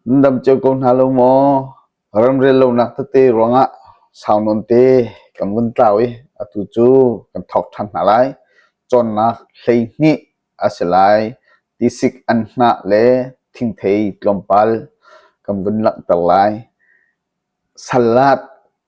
Nan dam cio ko hna lo maw? Ramrel lonak tete ruangah sau nawnte kan vun tlau i atu cu kan thawk ṭhan hna lai. Cawnnak hleihnih a si lai. Tisik an hnah le thingthei tlawmpal kan vun langhter lai. Salad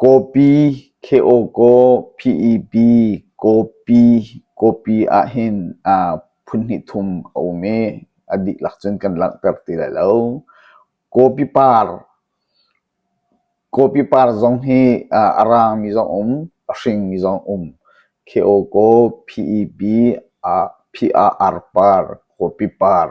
Kawpi Kheawkaw PEP Kawpi Kawpi ahhin phunhnih thum a um i a dihlak cun kan langhter ti lai lo. Kawpi par Kawpi par zong hi a raangmi zong um, a hringmi zong um. Kheawkaw PEP Pr par Kawpi par.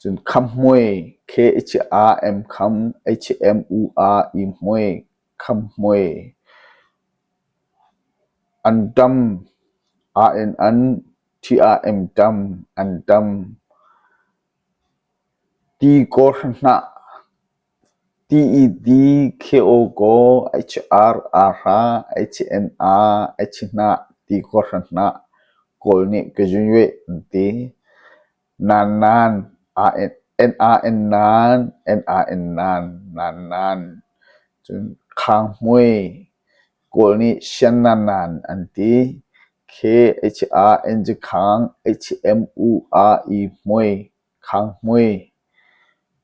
Cun khamhmuai khe i chiah ah em kham, ei chiah em u ah ihmuai, khamhmuai an ṭam, aa en an, ṭhi ah em ṭam, an ṭam, ti kaw hranhah. Ti-i-di khe-aw kaw a i ci-ar aa hra, a i ci-en aa, a i ci-hnah ti kawhhran hnah kawl nih ka zun yueh an ti. Nannan, en aa en nan, en aa en nan, nannan. Cun khang hmui kawl nih sian nannan an ti. Khe a i ci-aa en cu khang, a i ci-em u aa i hmui, khang hmui.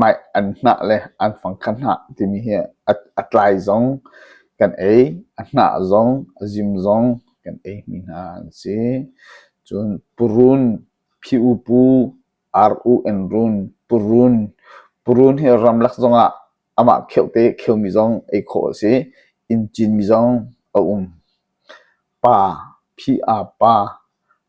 Mah an hnah le an fangkhat hnah timi hi a tlai zong kan ei, a hnah zong, a zim zong kan ei mi hna an si. Cun purun, phi-u-pu, ar-u-en-run, purun, purun hi ramlak zong ah amah kheuhte kheu mi zong ei khawh a si. Inn cin mi zong a um. Pa, phi-a pa.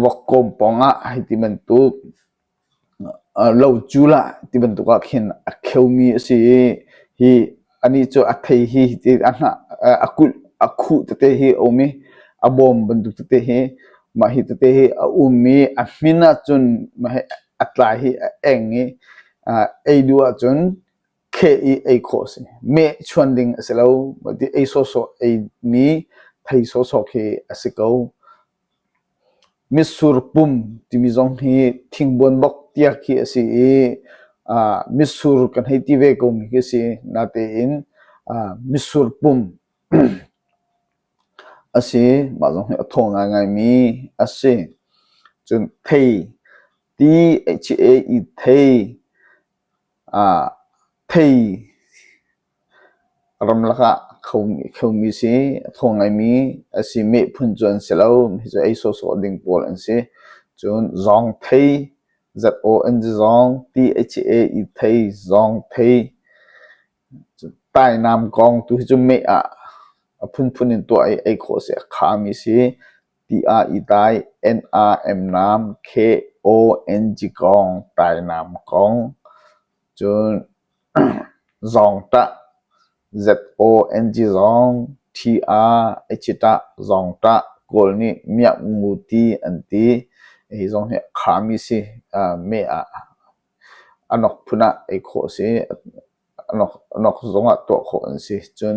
Vuakkawm pawng ah hi ti bantuk locul ah ti bantuk ah khin a kheumi a si i hi anih cu a thei hi ti a hnah a kulh a khuh tete hi a um i a bawm bantuk tete hi mah hi tete hi a um i a hmin ahcun mah hi a tlai hi a eng i ei duh ahcun kheh i ei khawh a si. Mehchuan ding a si lo. Ei sawhsawh eimi thei sawhsawh khi a si ko. Mitsur pum timi zong hi thingbuan bok tiak khi a si i mitsur kan hei ti ve komi khi a si. Natein mitsur pum a si. Mah zong hi a thaw ngaingaimi a si. Cun thei ti, H-A-E, thei Thei ramlak ah khomi si, a thaw ngaimi a si, meh phun cu an si lo. Hi cu ei sawhsawh ding pawl an si. Cun zong thei, ZONG, ti, HA, thei, zong thei. Tainam kong tuhi cu meh ah a phunphun in tuah i ei khawh a si. A khami si ti ah i dai. N-a-m-nam K-O-N-G kong tainam kong. Cun zawngtah Z-O-N-G zawng. T-a-htah zawngtah. Kawl nih miak ngu ti an ti. Hi zong hi a khami si meh ah. A nok phun ah ei khawh a si. A nok zong ah tuah khawh an si. Cun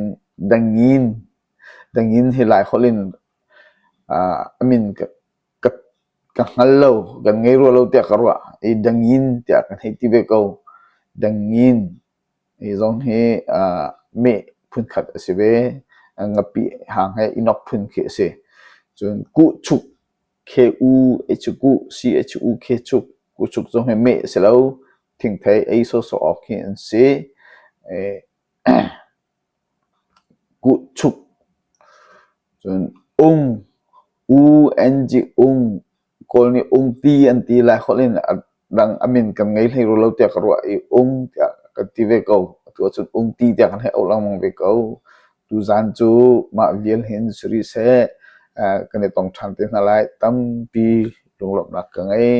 dangin, dangin hi lai holh in a min ka hngal lo, kan ngei rua lo tiah ka ruah. I dangin tiah kan hei ti ve ko. Dangin hi zong hi meh phunkhat a si ve. Ngapi hang he inok phun khi a si. Cun kuhchuk Khe u a cuk uh, si a cuk u khe cuk, kucuk zong hi meh a si lo. Thingthei ei sawhsawh awk khi an si. Kuhchuk. Cun ung, u, ng, ung, Kawl nih ungti an ti lai holh in dang a min kan ngei hlei ru lo tiah ka ruah i ung tiah kan ti ve ko atu ahcun ung ti tiah kan hei auh lengmang ve ko tuzan cu mah vial hin si rih seh kan i tong ṭhan te hna lai tampi lunglawmhnak ka ngei